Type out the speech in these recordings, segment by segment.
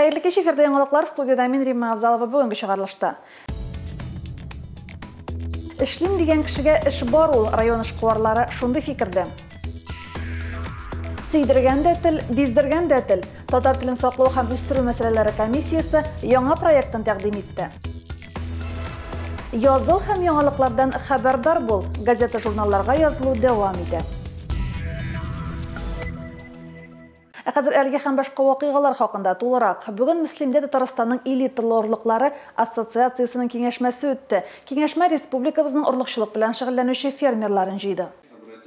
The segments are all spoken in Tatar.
Хәерле кич, эфирда яңалыклар, студиядә мин Римма Авзалова бүгенге чыгарылышта. Эшлим дигән кешегә эш бар ул, район эшкуарлары шундый фикердә. Сөйдергән дә тел, биздергән дә тел. Татар телен саклау һәм үстерү мәсьәләләре комиссиясе яңа проектын тәкъдим итте. Языл һәм яңалыклардан хәбәрдар бул. Газета-журналларга язылу дәвам итә. Ә хәзер әлеге һәм башка вакыйгалар хакында тулырак. Бүген Мөслимдә Татарстанның элиталы орлыклары ассоциациясенең киңәшмәсе үтте. Киңәшмә республикабызның орлыкчылык белән шөгыльләнүче фермерларын җыйды.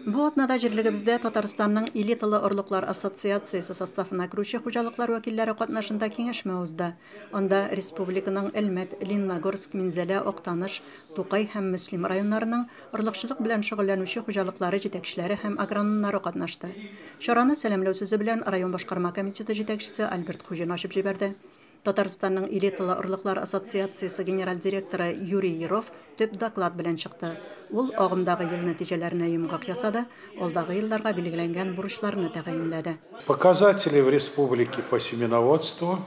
Бу атнада җирлегебездә Татарстанның элиталы орлыклар ассоциациясе составына керүче хуҗалыклар вәкилләре катнашында киңәшмә узды. Анда республиканың Әлмәт, Лениногорск, Минзәлә, Актаныш, Тукай һәм Мөслим районнарының орлыкчылык белән шөгыльләнүче хуҗалыклары җитәкчеләре һәм агрономнары катнашты. Чараны сәламләү сүзе белән район башкарма комитеты җитәкчесе Альберт Хуҗин ачып җибәрде. Татарстанның элиталы орлыклар ассоциациясе генераль директоры Юрий Еров төп доклад белән чыкты. Ул агымдагы ел нәтиҗәләренә йомгак ясады, алдагы елларга билгеләнгән бурычларны тәгаенләде. Показатели в республике по семеноводству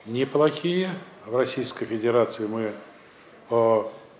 неплохие. В Российской Федерации мы по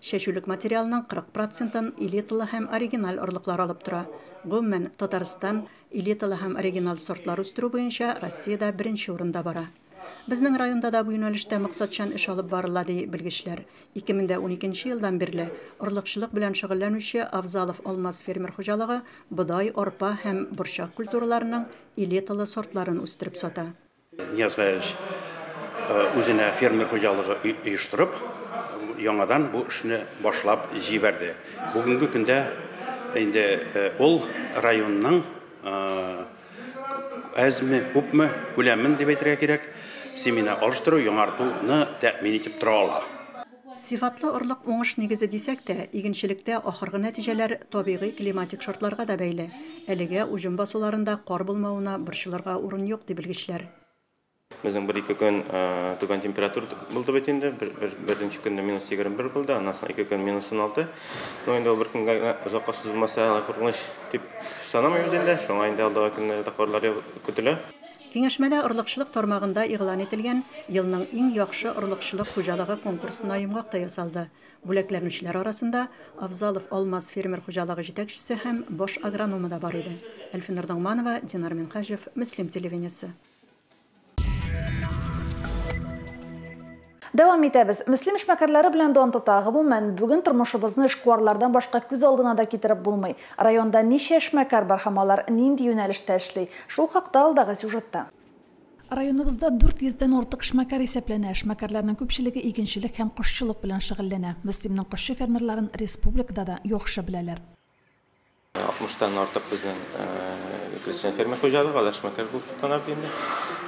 Чәчүлек материалының 40 процентын элиталы һәм оригиналь орлыклар алып тора. Гомумән, Татарстан элиталы һәм оригиналь сортлар үстерү буенча Россиядә беренче урында бара. Безнең районда да бу юнәлештә максатчан эш алып барыла, ди белгечләр. 2012 елдан бирле орлыкчылык белән шөгыльләнүче Авзалов Алмаз фермер хуҗалыгы бодай, арпа һәм борчак культураларының элиталы сортларын үстереп сата. Нияз Гаяз үзенә фермер хуҗалыгы оештырып, яңадан бу эшне башлап җибәрде. Бүгенге көндә инде ул районның әзме, күпме күләмен дип әйтергә кирәк, семена алыштыру, яңартуны тәэмин итеп тора ала. Сыйфатлы орлык уңыш нигезе дисәк тә, игенчелектә ахыргы нәтиҗәләр табигый климатик шартларга да бәйле. Әлегә уҗым басуларында кар булмавына борчылырга урын юк, ди белгечләр. Безнең бер-ике көн түбән температура булды бит инде. Беренче көнне минус егерме бер булды, аннан соң ике көн минус уналты. Ну, инде ул бер көнгә генә озакка сузылмаса, куркыныч дип санамыйбыз инде. Шуңа инде алдагы көннәрдә карлар көтелә. Киңәшмәдә орлыкчылык тармагында игълан ителгән Елның иң яхшы орлыкчылык хуҗалыгы конкурсына йомгак та ясалды. Бүләкләнүчеләр арасында Авзалов Алмаз фермер хуҗалыгы җитәкчесе һәм баш агрономы да бар иде. Әлфинур Ногманова, Динар Минһаҗев, Мөслим телевидениесе. Дәвам итәбез. Мөслим эшмәкәрләре белән дан тота. Гомумән, бүген тормышыбызны эшкуарлардан башка күз алдына да китереп булмый. Районда ничә эшмәкәр бар һәм алар нинди юнәлештә эшли? Шул хакта алдагы сюжетта. Районыбызда 400 дән артык эшмәкәр исәпләнә. Эшмәкәрләрнең күпчелеге игенчелек һәм кошчылык белән шөгыльләнә. Мөслимнең кошчы фермерларын республикада да яхшы беләләр. 60 тан артык безнең крестьян фермер хуҗалыгы, алар эшмәкәр булып чыклана бит инде.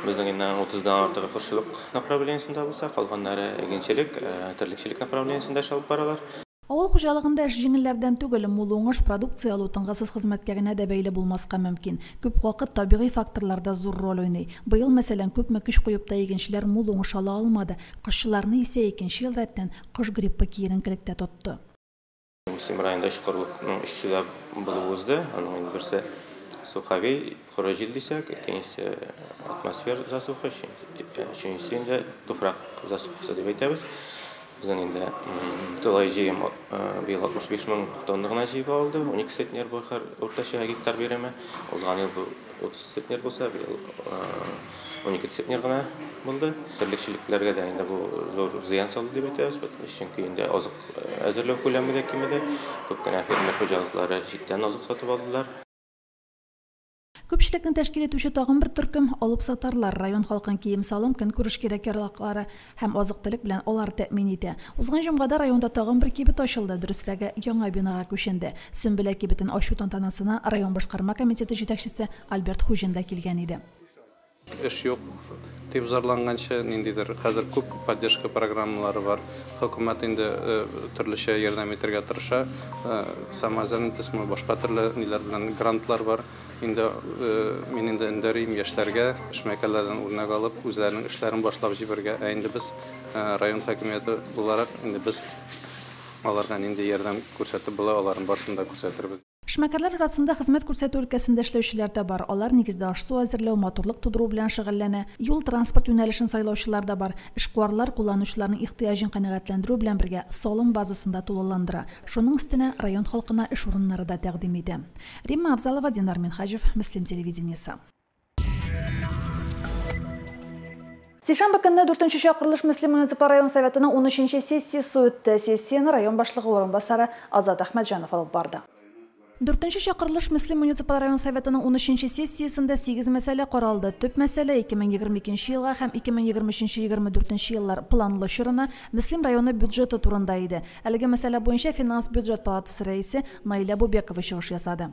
Безнең инде 30 дан артыгы кошчылык направлениесендә булса, калганнары игенчелек, терлекчелек направлениесендә эш алып баралар. Авыл хуҗалыгында эш җиңелләрдән түгел, мул уңыш, продукция алу тынгысыз хезмәткәренә дә бәйле булмаска мөмкин. Күп вакыт табигый факторлар да зур роль уйный. Быел, мәсәлән, күпме көч куеп та игенчеләр мул уңыш ала алмады, кошчыларны исә икенче ел рәттән кош гриппы киеренкелектә тотты. Муслим районында өч корылыкның өчесе дә булып узды. Аның инде берсе суховей, коры җил дисәк, икенчесе атмосфер засуха, өченчесе инде туфрак засухасы дип әйтәбез. Безнең инде тулай җыем быел 65 мең тонна гына җыеп алды, 12 центнер бу уртача гектар бирәме. Узган ел бу 30 центнер булса, быел Унике центнер гына булды. Терлекчелекләргә дә инде бу зур зыян салды дип әйтәбез, чөнки инде азык әзерләү күләме дә кимеде. Күп кенә фермер хуҗалыклары читтән азык сатып алдылар. Күпчелекне тәшкил итүче тагын бер төркем, алыпсатарлар. Район халкын кием-салым, көнкүреш кирәк-яраклары һәм азык-төлек белән алар тәэмин итә. Узган җомгада районда тагын бер кибет ачылды, дөресрәге, яңа бинага күченде. Сөмбелә кибетен ачу тантанасына район башкарма комитеты җитәкчесе Альберт Хуҗин да килгән иде. Эш юк дип зарланганчы, ниндидер хәзер күп поддержка программалары бар. Хөкүмәт инде төрлечә ярдәм итәргә тырыша. Самозанятостьмы, башка төрле ниләр белән грантлар бар. Инде мин инде өндәрим яшьләргә, эшмәкәрләрдән үрнәк алып, үзләренең эшләрен башлап җибәрергә. Ә инде без район хакимияте буларак, инде без аларга нинди ярдәм күрсәтеп була, аларның барысын да күрсәтербез. Эшмәкәрләр арасында хезмәт күрсәтү өлкәсендә эшләүчеләр дә бар. Алар нигездә аш-су әзерләү, матурлык тудыру белән шөгыльләнә. Юл-транспорт юнәлешен сайлаучылар да бар. Эшкуарлар кулланучыларның ихтыяҗын канәгатьләндерү белән бергә, салым базасын да тулыландыра. Шуның өстенә, район халкына эш урыннары да тәкъдим итә. Римма Авзалова, Динар Минһаҗев, Мөслим телевидениесе. Сишәмбе көнне 4 чакырылыш Мөслим муниципаль район советының 13 сессиясе үтте. Сессияне район башлыгы урынбасары Азат Әхмәтҗанов алып барды. 4 чакырылыш Мөслим муниципаль район советының 13 сессиясендә сигез мәсьәлә каралды. Төп мәсьәлә, 2022 елга һәм 2023-24 еллар планлы чорына Мөслим районы бюджеты турында иде. Әлеге мәсьәлә буенча финанс-бюджет палатасы рәисе Наилә Бубекова чыгыш ясады.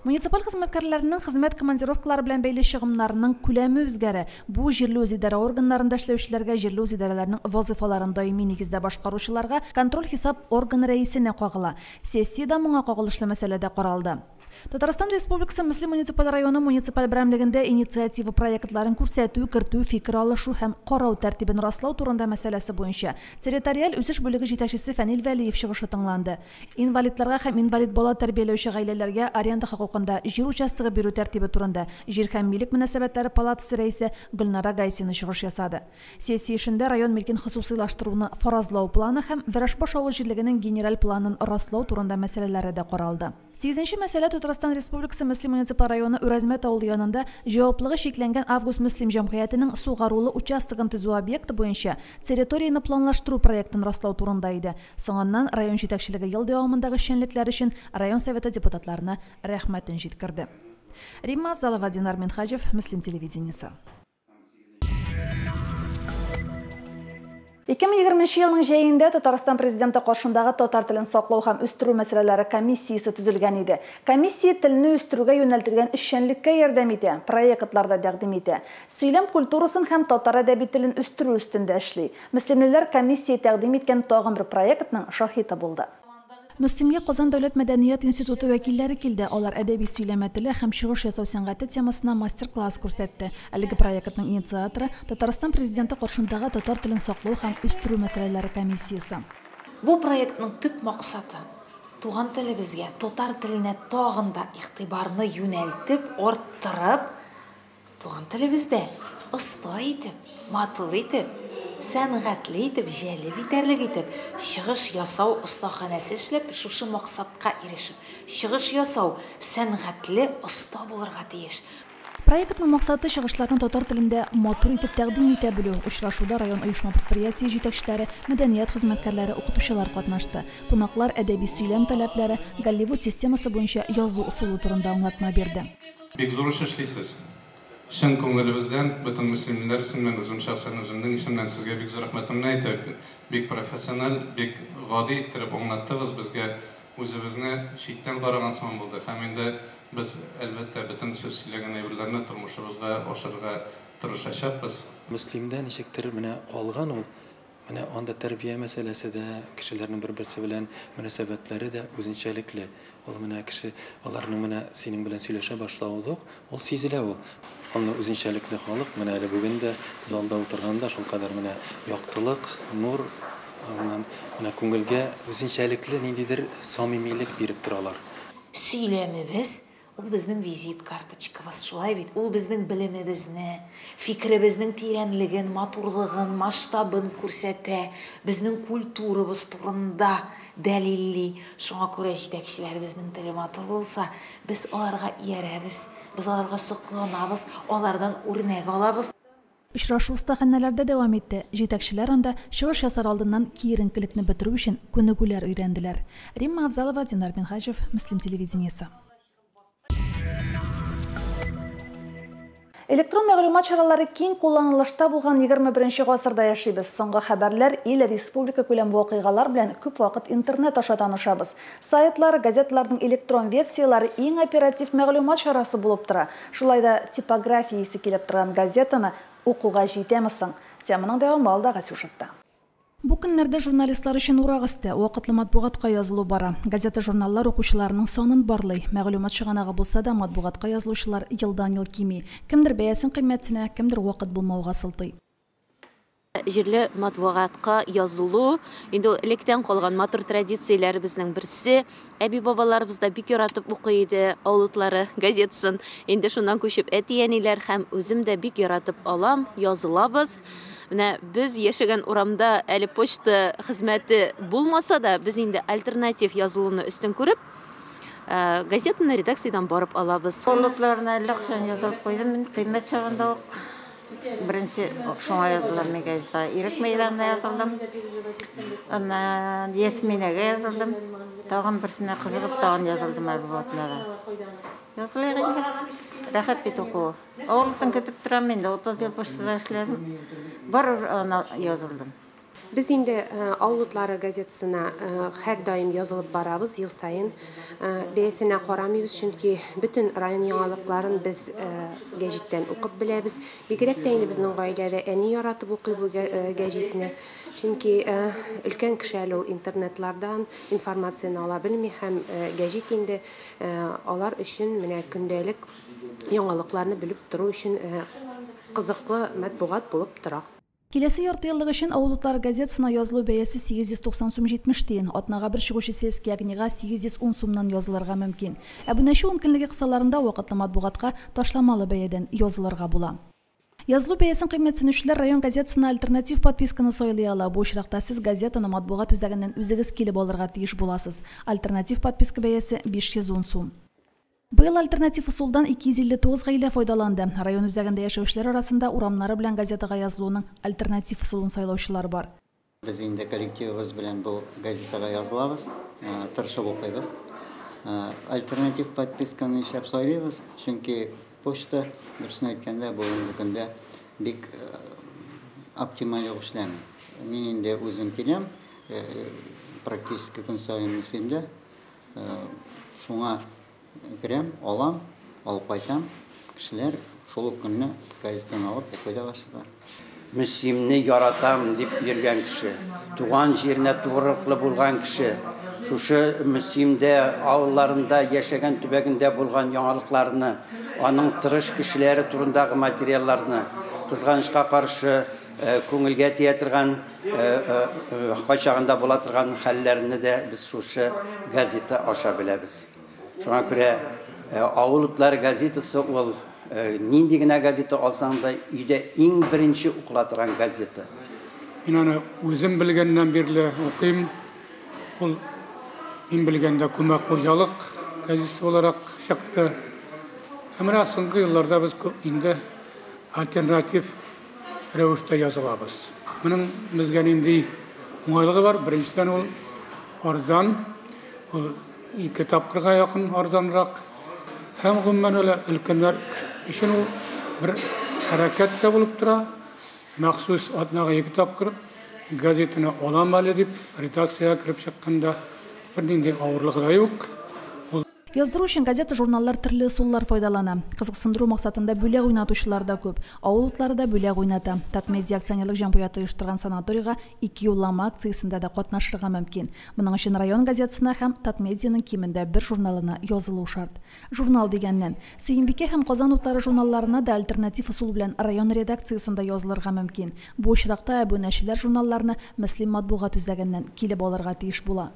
Муниципаль хезмәткәрләренең хезмәт командировкалары белән бәйле чыгымнарының күләме үзгәрә. Бу җирле үзидарә органнарында эшләүчеләргә, җирле үзидарәләрнең вазыйфаларын даими нигездә башкаручыларга, контроль-хисап органы рәисенә кагыла. Сессиядә моңа кагылышлы мәсьәлә дә каралды. Татарстан Республикасы Мөслим муниципаль районы муниципаль берәмлегендә инициатива проектларын күрсәтү, кертү, фикер алышу һәм карау тәртибен раслау турында мәсьәләсе буенча территориаль үсеш бүлеге җитәкчесе Фәнил Вәлиев чыгышы тыңланды. Инвалидларга һәм инвалид бала тәрбияләүче гаиләләргә аренда хокукында җир участогы бирү тәртибе турында җир һәм милек мөнәсәбәтләре палатасы рәисе Гөлнара Гайсина чыгыш ясады. Сессия эшендә район милкен хосусыйлаштыруны фаразлау планы һәм Вәрашбаш авыл җирлегенең генераль планын раслау турында мәсьәләләре дә каралды. Сигезенче мәсьәлә Татарстан Республикасы Мөслим муниципаль районы Үрәзмәт авылы янында җаваплыгы чикләнгән Август Мөслим җәмгыятенең сугарулы участогын төзү объекты буенча территорияне планлаштыру проектын раслау турында иде. Соңыннан район җитәкчелеге ел дәвамындагы эшчәнлекләре өчен район Советы депутатларына рәхмәтен җиткерде. Римма Авзалова, Динар Минһаҗев, Мөслим телевидениесе. Ике мең егерменче елның җәендә Татарстан Президенты каршындагы татар телен саклау һәм үстерү мәсьәләләре комиссиясе төзелгән иде. Комиссия телне үстерүгә юнәлтелгән эшчәнлеккә ярдәм итә, проектлар да тәкъдим итә. Сөйләм культурасын һәм татар әдәби телен үстерү өстендә эшли. Мөслимлеләр комиссия тәкъдим иткән тагын бер проектның шаһиты булды. Мөслимгә Казан дәүләт мәдәният институты вәкилләре килде, алар әдәби сөйләмә теле һәм чыгыш ясау сәнгате темасына мастер-класс күрсәтте. Әлеге проектның инициаторы, Татарстан Президенты каршындагы татар телен саклау һәм үстерү мәсьәләләре комиссиясе. Бу проектның төп максаты, туган телебезгә, татар теленә тагын да игътибарны юнәлтеп, арттырып, Туган телебездә оста итеп, матур итеп, сәнгатьле итеп, җәлеп итәрлек итеп чыгыш ясау остаханәсе эшләп, шушы максатка ирешү. Чыгыш ясау, сәнгатьле оста булырга тиеш. Проектның максаты, чыгышларны татар телендә матур итеп тәкъдим итә белү. Очрашуда район оешма-предприятие җитәкчеләре, мәдәният хезмәткәрләре, укытучылар катнашты. Кунаклар әдәби сөйләм таләпләре, Голливуд системасы буенча язу ысулы турында аңлатма бирде. Бик зур эш эшлисез. Чын күңелебездән, бөтен мөслимиләр исеменнән, үзем шәхсән үземнең исемнән сезгә бик зур рәхмәтемне әйтәм. Бик профессиональ, бик гади иттереп аңлаттыгыз безгә. Үзебезне читтән караган сыман булды. Һәм инде без, әлбәттә, бөтен сез сөйләгән әйберләрне тормышыбызга ашырырга тырышачакбыз. Мөслимдә ничектер менә калган ул Менә анда тәрбия мәсьәләсе дә, кешеләрнең бер-берсе белән мөнәсәбәтләре дә үзенчәлекле. Ул менә кеше, аларның менә синең белән сөйләшә башлавы да ук, ул сизелә ул. Андый үзенчәлекле халык, менә әле бүген дә залда утырганда шулкадәр менә яктылык, нур, аннан менә күңелгә үзенчәлекле ниндидер самимилек биреп торалар. Сөйләмебез, Ул безнең визит карточкабыз, шулай бит? Ул безнең белемебезне, фикеребезнең тирәнлеген, матурлыгын, масштабын күрсәтә, безнең культурабыз турында дәлилли. Шуңа күрә җитәкчеләребезнең теле матур булса, без аларга иярәбез, без аларга сокланабыз, алардан үрнәк алабыз. Очрашу остаханәләрдә дәвам итте, җитәкчеләр анда чыгыш ясар алдыннан киеренкелекне бетерү өчен күнегүләр өйрәнделәр. Римма Авзалова, Динар Минһаҗев, Мөслим телевидениесе. Электрон мәгълүмат чаралары киң кулланылышта булган егерме беренче гасырда яшибез. Соңгы хәбәрләр, ил, республика күләм вакыйгалар белән күп вакыт интернет аша танышабыз. Сайтлар, газеталарның электрон версияләре иң оператив мәгълүмат чарасы булып тора. Шулай да типография исе килеп торган газетаны укуга җитәме соң? Теманың дәвамы алдагы сюжетта. Бу көннәрдә журналистлар өчен урак өсте, вакытлы матбугатка язылу бара. Газета-журналлар укучыларының санын барлый. Мәгълүмат чыганагы булса да, матбугатка язылучылар елдан-ел кими. Кемдер бәясен кыйммәтенә, кемдер вакыт булмауга сылтый. җирле матбугатка язылу инде ул электән калган матур традицияләребезнең берсе. Әби-бабаларыбыз да бик яратып укый иде Алутлары газетасын. Инде шуннан күчеп әти-әниләр һәм үзем дә бик яратып алам, язылабыз. Менә без яшәгән урамда әле почта хезмәте булмаса да, без инде альтернатив язылуны өстен күреп, э, газетаны редакциядән барып алабыз. Алутларына әллә кайчан язылып куйдым, мин кыйммәт чагында ук Беренче шуңа язылдым мин газетага. Ирек мәйданына язылдым. Аннан Ясминәгә язылдым. Тагын берсенә кызыгып тагын язылдым Альбуатына да. Язылыйк инде. Рәхәт бит укуы. Авырлыктан көтеп торам инде. 30 ел почтада эшләдем. Барыбер ана язылдым. Без инде Авыл утлары газетасына һәрдаим язылып барабыз, ел саен. Бәясенә карамыйбыз, чөнки бөтен район яңалыкларын без гәҗиттән укып беләбез. Бигрәк тә инде безнең гаиләдә әни яратып укый бу гәҗитне, чөнки өлкән кеше әле ул интернетлардан информацияне ала белми һәм гәҗит инде алар өчен менә көндәлек яңалыкларны белеп тору өчен кызыклы матбугат булып тора. Киләсе яртыеллык өчен Авыл утлары газетасына язылу бәясе 890 сум 70 тиен, атнага бер чыгучы Сельский огнига 810 сумнан язылырга мөмкин. Әбүнәчү ункөнлеге кысаларында вакытлы матбугатка ташламалы бәядән язылырга була. Язылу бәясен кыйммәтсенүчеләр район газетасына альтернатив подписканы сайлый ала, бу очракта сез газетаны матбугат үзәгеннән үзегез килеп алырга тиеш буласыз. Альтернатив подписка бәясе, 510 сум. Быел альтернатив ысулдан 259 гаилә файдаланды. Район үзәгендә яшәүчеләр арасында урамнары белән газетага язылуның альтернатив ысулын сайлаучылар бар. Без инде коллективыбыз белән бу газетага язылабыз, тырышып укыйбыз. Альтернатив подписканы нишләп сайлыйбыз? Чөнки почта, дөресен әйткәндә, бүгенге көндә бик оптималь ук эшләми. Мин инде үзем киләм, практически көн саен Мөслимдә Шуңа керәм, алам, алып кайтам. Кешеләр шул ук көнне газетаны алып укый да башлыйлар. Мөслимне яратам дип йөргән кеше, туган җиренә тугрылыклы булган кеше, шушы Мөслимдә авылларында яшәгән төбәгендә булган яңалыкларны, аның тырыш кешеләре турындагы материалларны, кызганычка каршы, күңелгә тия торган, Кайчагында була торган хәлләрне дә без шушы газета аша беләбез. Шуңа күрә Авыл утлары газетасы ул нинди генә газета алсаң да, өйдә иң беренче укыла торган газета. Мин аны үзем белгәннән бирле укыйм. Ул мин белгәндә күмәк хуҗалык газетасы буларак чыкты. Ә менә соңгы елларда без күп инде альтернатив рәвештә язылабыз. Моның безгә нинди уңайлыгы бар? Беренчедән, ул арзан, ул ике тапкырга якын арзанрак. Һәм, гомумән алганда, өлкәннәр өчен ул бер хәрәкәт тә булып тора. Махсус атнага ике тапкыр газетаны алам әле дип, редакциягә кереп чыкканда бернинди авырлыгы да юк. Яздыру өчен газета-журналлар төрле ысуллар файдалана. Кызыксындыру максатында бүләк уйнатучылар да күп. Авыл утлары да бүләк уйната. Татмедиа акционерлык җәмгыяте оештырган санаторийга ике юллама акциясендә дә катнашырга мөмкин. Моның өчен район газетасына һәм Татмедианың кимендә бер журналына язылу шарт. Журнал дигәннән. Сөембикә һәм Казан утлары журналларына да альтернатив ысул белән район редакциясендә язылырга мөмкин. Бу очракта әбүнәчеләр журналларны Мөслим матбугат үзәгеннән килеп алырга тиеш була.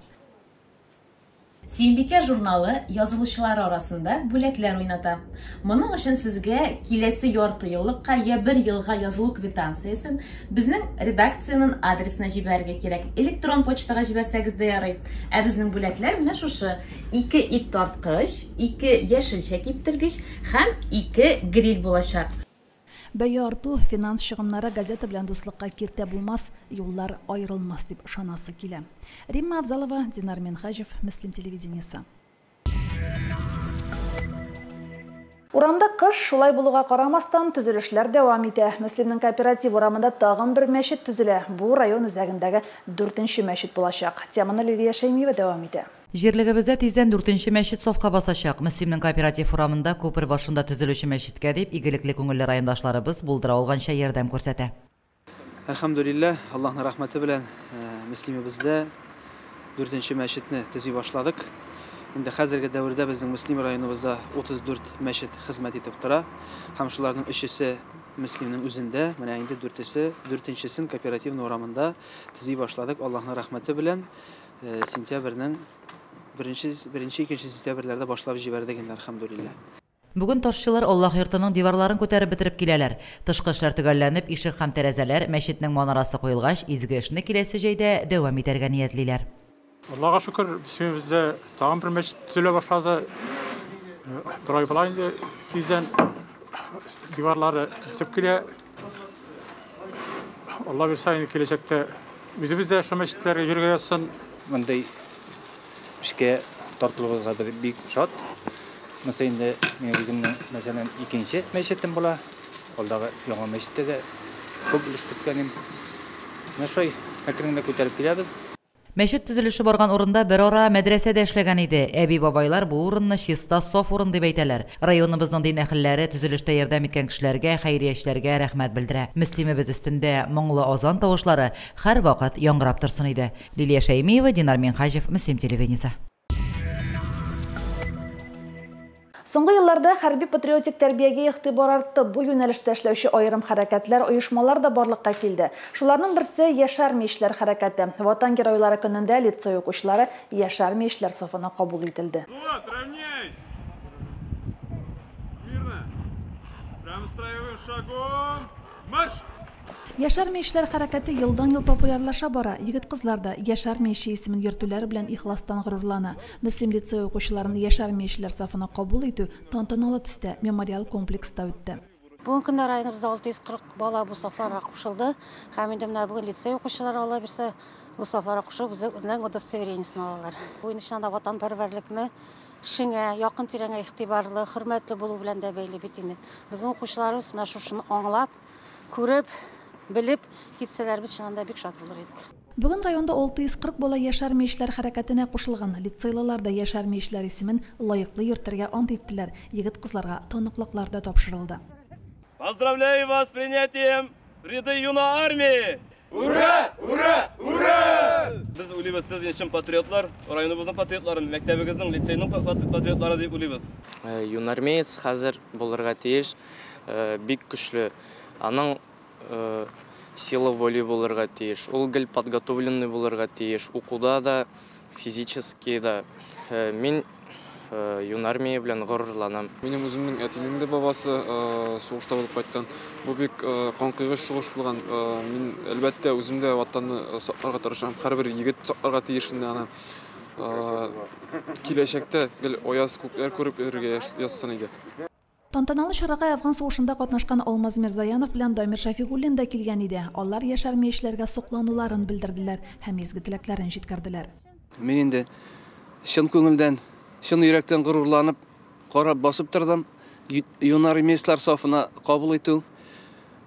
Сөембикә журналы язылучылары арасында бүләкләр уйната. Моның өчен сезгә киләсе ярты еллыкка йә бер елга язылу квитанциясен безнең редакциянен адресына җибәрергә кирәк. Электрон почтага җибәрсәгез дә ярый. Ә безнең бүләкләр менә шушы, ике ит тарткыч, ике яшелчә киптергеч һәм ике гриль булачак. Бәя арту, финанс чыгымнары газета белән дуслыкка киртә булмас, юллар аерылмас дип ышанасы килә. Римма Авзалова, Динар Минһаҗев, Мөслим телевидениесе. Урамда кыш, шулай булуга карамастан, төзелешләр дәвам итә. Мөслимнең Кооператив урамында тагын бер мәчет төзелә. Бу район үзәгендәге дүртенче мәчет булачак. Теманы Лилия Шәймиева дәвам итә. Җирлегебездә тиздән дүртенче мәчет сафка басачак. Мөслимнең кооператив урамында, күпер башында төзелүче мәчеткә дип, игелекле күңелле райондашларыбыз булдыра алганча ярдәм күрсәтә. Әлхәмдүлилләһ, Аллаһның рәхмәте белән Мөслимебездә дүртенче мәчетне төзи башладык. Инде хәзерге дәвердә безнең Мөслим районыбызда 34 мәчет хезмәт итеп тора һәм шуларның өчесе Мөслимнең үзендә, менә инде дүртесе, дүртенчесен кооперативный урамында төзи башладык, Аллаһның рәхмәте белән. Сентябрьнең беренче, беренче, икенче сентябрьләрдә башлап җибәрдек инде, әлхәмдүлилләһ. Бүген ташчылар Аллаһ йортының диварларын күтәреп бетереп киләләр. Тышкы эшләр төгәлләнеп, ишек һәм тәрәзәләр, мәчетнең манарасы куелгач, изге эшне киләсе җәйдә дәвам итәргә ниятлиләр. Аллага шөкер, исемебездә тагын бер мәчет төзелә башлады. Бер ай була инде, тиздән диварлары бетеп килә. Алла бирса, инде киләчәктә үзебез дә шул мәчетләргә йөрергә язсын. Мондый эшкә тартылуыбызга без бик шат. Монысы инде мин үземнең, мәсәлән, икенче мәчетем була. Алдагы яңа мәчеттә дә күп өлеш керткәнем. Менә шулай әкрен генә күтәреп киләбез. Мәчет төзелеше барган урында берара мәдрәсә дә эшләгән иде. Әби-бабайлар бу урынны чиста, саф урын дип әйтәләр. Районыбызның дин әһелләре төзелештә ярдәм иткән кешеләргә, хәйриячеләргә рәхмәт белдерә. Мөслимебез өстендә моңлы азан тавышлары һәрвакыт яңгырап торсын иде. Лилия Шәймиева, Динар Минһаҗев, Мөслим телевидениесе. Соңгы елларда хәрби-патриотик тәрбиягә игътибар артты, бу юнәлештә эшләүче аерым хәрәкәтләр, оешмалар да барлыкка килде. Шуларның берсе, Яшь армия эшләр хәрәкәте. Ватан геройлары көнендә лицей укучылары Яшь армия эшләр сафына кабул ителде. Взвод, равняйсь! Смирно! Прямо строевым шагом, марш! Яшь армия эшләр хәрәкәте елдан-ел популярлаша бара. Егет-кызлар да Яшь армия эше исемен йөртүләре белән ихластан горурлана. Мөслим лицее укучыларын яшь армия эшләр сафына кабул итү тантаналы төстә Мемориал комплекста үтте. Бүгенге көндә районыбызда 640 бала бу сафларга кушылды һәм инде менә бүген лицей укучылары аллабирса бу сафларга кушылып үзләренең удостоверениесен алалар. Бу инде чыннан да ватанпәрвәрлекне шиңә, якын-тирәңә игътибарлы, хөрмәтле булу белән дә бәйле бит инде. Безнең укучыларыбыз менә шушыны аңлап, күреп, белеп китсәләр, без чыннан да бик шат булыр идек. Бүген районда 640 бала яшәрми эшләр хәрәкәтенә кушылган. Лицейлылар да яшәрми эшләр исемен лаеклы йөртергә ант иттеләр, егет-кызларга таныклыклар да тапшырылды. Поздравляю вас с принятием в ряды Юна армии! Ура! Ура! Ура! Без уйлыйбыз, сез өчен патриотлар, районыбызның патриотлары, мәктәбегезнең, лицейның патриотлары дип уйлыйбыз. Э, юнармеец хәзер булырга тиеш, э, бик көчле. Аның э, сила воли булырга тиеш. Ул гел подготовленный булырга тиеш. Укуда да, физически да. Мин юнармия белән горурланам. Минем үземнең әтинең дә бабасы сугышта булып кайткан. Бу бик канкойгыч сугыш булган. Мин, әлбәттә, үзем дә Ватанны сакларга тырышам. Һәрбер егет сакларга тиеш инде аны. Киләчәктә гел аяз күкләр күреп йөрергә язсын иде. Тантаналы чарага Әфган сугышында катнашкан Алмаз Мирзаянов белән Дамир Шәфигуллин да килгән иде. Алар яшь армиячеләргә соклануларын белдерделәр һәм изге теләкләрен җиткерделәр. Мин инде чын күңелдән, чын йөрәктән горурланып, карап басып тордым. Юнармеецлар сафына кабул итү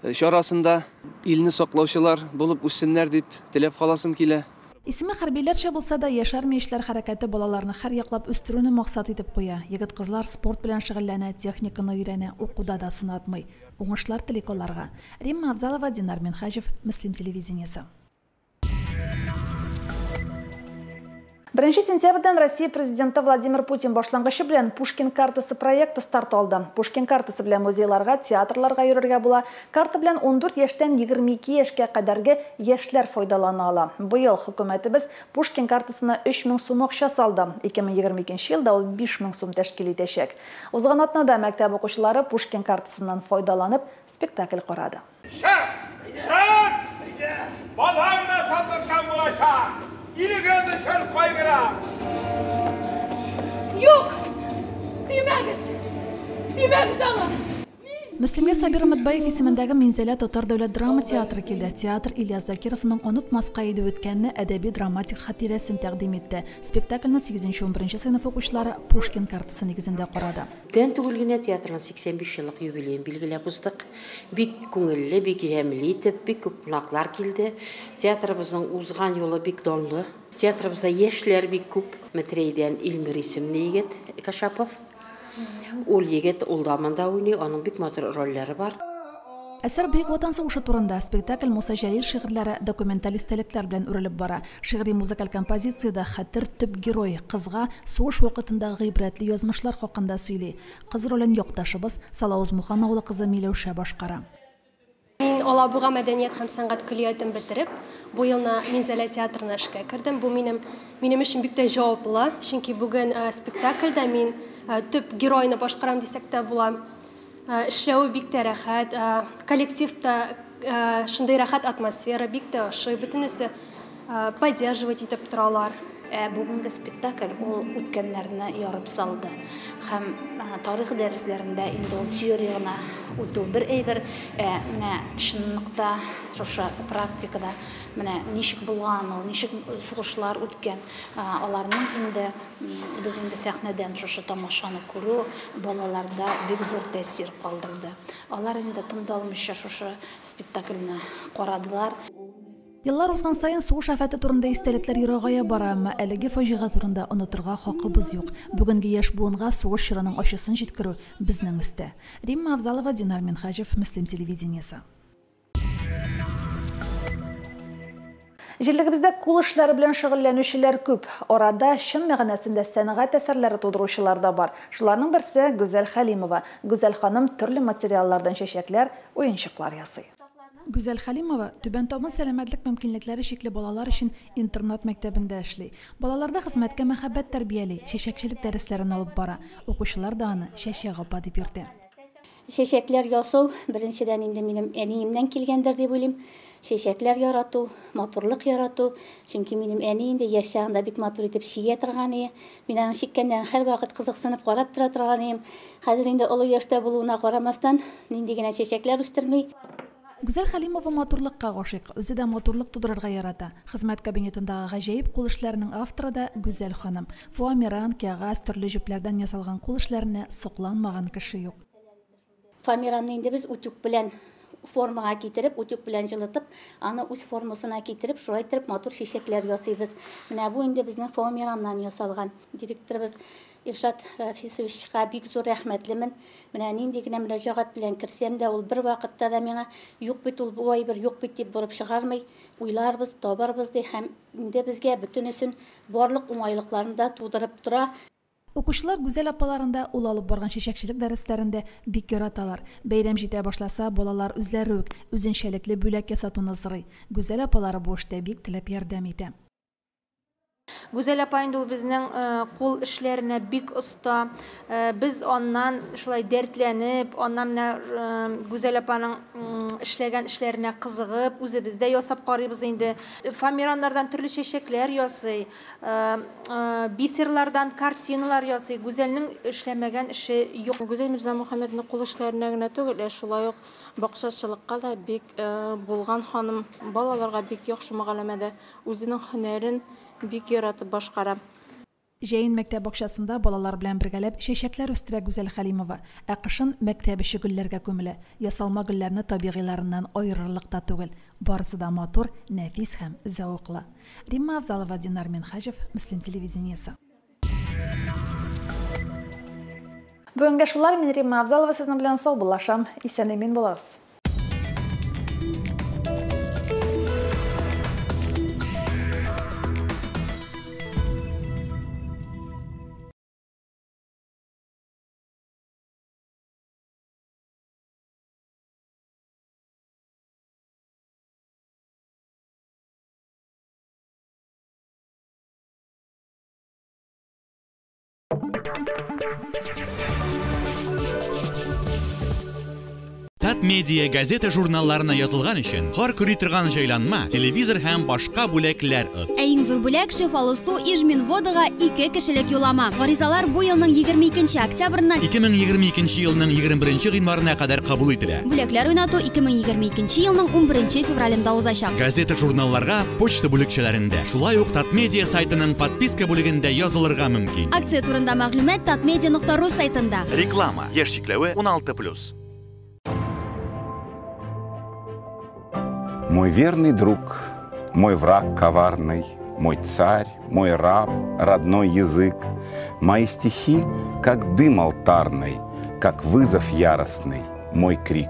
чарасында илне саклаучылар булып үссеннәр дип теләп каласым килә. Исеме хәрбиләрчә булса да, Яшь армия эшләр хәрәкәте балаларны һәрьяклап үстерүне максат итеп куя. Егет-кызлар спорт белән шөгыльләнә, техниканы өйрәнә, укуда да сынатмый. Уңышлар телик аларга. Римма Авзалова, Динар Минһаҗев, Мөслим телевидениесе. Беренче сентябрьдән Россия Президенты Владимир Путин башлангычы белән Пушкин картасы проекты старт алды. Пушкин картасы белән музейларга, театрларга йөрергә була, Карта белән ундүрт яшьтән егерме ике яшькә кадәрге яшьләр файдалана ала. Быел хөкүмәтебез Пушкин картасына өч мең сум акча салды. Ике мең егерме икенче елда ул биш мең сум тәшкил итәчәк. Узган атнада мәктәп укучылары Пушкин картасыннан файдаланып, спектакль карады. Шәп! Шәп! Бабаң да сатыршан булачак! Илегез өчен кайгыра! Юк! Тимәгез! Тимәгез аңа! Мөслимгә Сабир Өметбаев исемендәге Минзәлә татар дәүләт драма театры килде. Театр Ильяс Закировның онытмаска иде үткәнне әдәби-драматик хатирәсен тәкъдим итте. Спектакльне сигезенче-унберенче сыйныф укучылары Пушкин картасы нигезендә карады. Күптән түгел генә театрның 85 еллык юбилеен билгеләп уздык. Бик күңелле, бик җәмле итеп, бик күп кунаклар килде. Театрыбызның узган юлы бик данлы. Театрыбызда яшьләр бик күп. Метрейдән Илмир исемле егет Кашапов. Ул егет, ул да монда уйный, аның бик матур рольләре бар. Әсәр Бөек Ватан сугышы турында, спектакль Муса Җәлил шигырьләре, документаль истәлекләр белән үрелеп бара. Шигъри-музыкаль композициядә Хәтер төп герой, кызга сугыш вакытындагы гыйбрәтле язмышлар хакында сөйли. Кыз ролен якташыбыз, Салавыз Мухан авылы кызы Миләүшә башкара. Мин Алабуга мәдәният һәм сәнгать көллиятен бетереп, бу елны Минзәлә театрына эшкә кердем. Бу минем минем өчен бик тә җаваплы, чөнки бүген спектакльдә мин төп геройны башкарам дисәк тә була. Эшләве бик тә рәхәт, коллектив та шундый рәхәт атмосфера, бик тә ошый бөтенесе. поддерживать итеп торалар. Ә бүгенге спектакль ул үткәннәрне ярып салды. Һәм тарих дәресләрендә инде ул теория гына үтү бер әйбер, ә менә чынлыкта шушы практикада менә ничек булган ул, ничек сугышлар үткән, аларның инде без инде сәхнәдән шушы тамашаны күрү балаларда бик зур тәэсир калдырды. Алар инде тыңдалмыйча шушы спектакльне карадылар. Еллар узган саен сугыш афәте турында истәлекләр ерагая бара, әмма әлеге фаҗига турында онытырга хакыбыз юк. Бүгенге яшь буынга сугыш чорының ачысын җиткерү, безнең өстә. Римма Авзалова, Динар Минһаҗев, Мөслим телевидениесе. Җирлегебездә кул эшләре белән шөгыльләнүчеләр күп. Арада чын мәгънәсендә сәнгать әсәрләре тудыручылар да бар. Шуларның берсе, Гүзәл Хәлимова. Гүзәл ханым төрле материаллардан чәчәкләр, уенчыклар ясый. Гүзәл Хәлимова Түбән Табын сәламәтлек мөмкинлекләре чикле балалар өчен интернат мәктәбендә эшли. Балаларда хезмәткә мәхәббәт тәрбияли, чәчәкчелек дәресләрен алып бара. Укучылар да аны Чәчәк апа дип йөртә. Чәчәкләр ясау, беренчедән инде минем әниемнән килгәндер дип уйлыйм. Чәчәкләр ярату, матурлык ярату. Чөнки минем әни инде яшь чагында бик матур итеп чигә торган ие. Мин аның чиккәннәрен һәрвакыт кызыксынып карап тора торган идем. Хәзер инде олы яшьтә булуына карамастан, нинди генә чәчәкләр үстерми. Гүзәл Хәлимова матурлыкка гашыйк, үзе дә матурлык тудырырга ярата. Хезмәт кабинетындагы гаҗәеп кул эшләренең авторы да Гүзәл ханым. Фоамиран, кәгазь, төрле җепләрдән ясалган кул эшләренә сокланмаган кеше юк. Фомеранны инде без утюг белән формага китереп, утюг белән җылытып, аны үз формасына китереп, шулай иттереп матур чәчәкләр ясыйбыз. Менә бу инде безнең фомераннан ясалган. Директорыбыз Илшат Рафисовичка бик зур рәхмәтлемен. Менә нинди генә мөрәҗәгать белән керсәм дә, ул бервакытта да миңа, Юк бит ул бу әйбер, юк бит, дип борып чыгармый. Уйларбыз, табарбыз, ди һәм инде безгә бөтенесен, барлык уңайлыкларын да тудырып тора. Укучылар Гүзәл апаларын да, ул алып барган чәчәкчелек дәресләрен дә бик яраталар. Бәйрәм җитә башласа, балалар үзләре үк үзенчәлекле бүләк ясатуны сорый. Гүзәл апалары бу эштә бик теләп ярдәм итә. Гүзәл апа инде ул безнең кул эшләренә бик оста. Без аннан шулай дәртләнеп, аннан менә Гүзәл апаның эшләгән эшләренә кызыгып, үзебез дә ясап карыйбыз инде. Фоамираннардан төрле чәчәкләр ясый. Бисерлардан картиналар ясый. Гүзәлнең эшләмәгән эше юк. Гүзәл Мирзамухәммәднең кул эшләренә генә түгел, ә шулай ук бакчачылыкка да бик булган ханым. Балаларга бик яхшы мөгаләмәдә, үзенең һөнәрен бик яратып башкара. Җәен мәктәп бакчасында балалар белән бергәләп чәчәкләр үстерә Гүзәл Хәлимова, ә кышын мәктәп эче гөлләргә күмелә. Ясалма гөлләрне табигыйларыннан аерырлык та түгел, барысы да матур, нәфис һәм зәвыклы. Римма Авзалова, Динар Минхаҗев, Мөслим телевидениесе. Бүгенгә шулар, мин Римма Авзалова сезнең белән саубуллашам, исән-имин булыгыз. Азат медиа газета журналларына язылган өчен хор күри торган җайланма, телевизор һәм башка бүләкләр от. Ә иң зур бүләк шифалы су Ижмин водага 2 кешелек юлама. Гаризалар бу елның 22 октябрьннан 2022 елның 21 гыйнварына кадәр кабул ителә. Бүләкләр уйнату 2022 елның 11 февралендә узачак. Газета-журналларга почта бүлекчәләрендә, шулай ук Татмедиа сайтының подписка бүлегендә язылырга мөмкин. Акция турында мәгълүмат tatmedia.ru сайтында. Реклама. Яшь чикләве 16+. Мой верный друг, мой враг коварный, мой царь, мой раб, родной язык. Мои стихи, как дым алтарный, как вызов яростный, мой крик.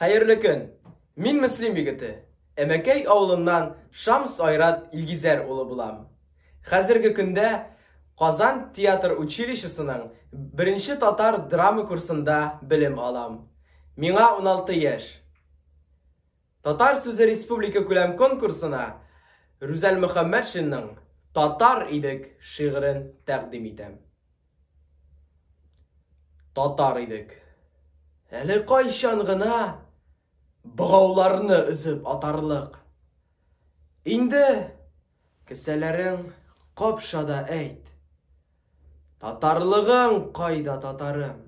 Хәерле көн! Мин Мөслим егете. Әмәкәй авылыннан Шамс Айрат Илгизәр улы булам. Хәзерге көндә Казан театр училищесының беренче татар драма курсында белем алам. Миңа 16 яшь. Татар сүзе республикакүләм конкурсына Рүзәл Мөхәммәтшинның Татар идек шигырен тәкъдим итәм. Татар идек. Әле кайчан гына богауларны өзеп атарлык. Инде Кесәләрең капша да әйт. Татарлыгың кайда, татарым?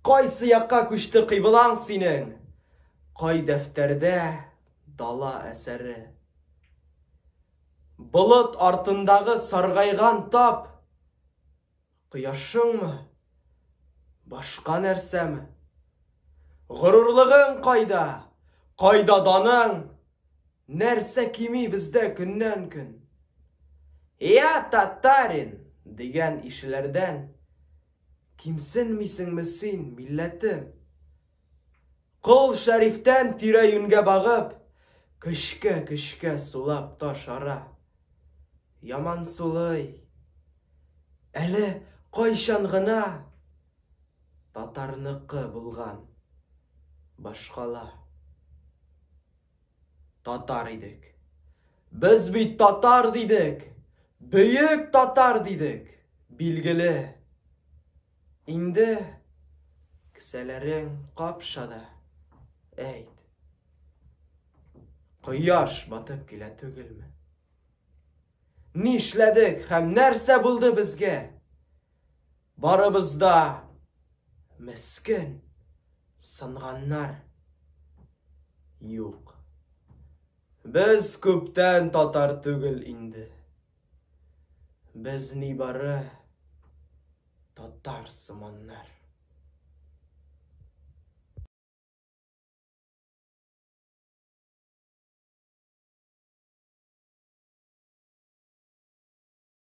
Кайсы якка күчте кыйблаң синең? Кай дәфтәрдә дала әсәре? Болыт артындагы саргайган тап, Кояшыңмы? Башка нәрсәме? Горурлыгың кайда? Кайда даның? Нәрсә кими бездә көннән-көн? Я татарин дигән ишеләрдән кимсенмисеңме син, милләтем? Кол Шәрифтән тирә-юньгә багып, көчкә-көчкә сулап та шара. Яман сулый. Әле кайчан гына татарныкы булган башкала. Татар идек. Без бит татар дидек. Бөек татар дидек. Билгеле. Инде кесәләрең капша да, әйт. Кояш батып килә түгелме? Нишләдек һәм нәрсә булды безгә? Барыбызда мескен сынганнар юк. Без күптән татар түгел инде. Без нибары татар сыманнар.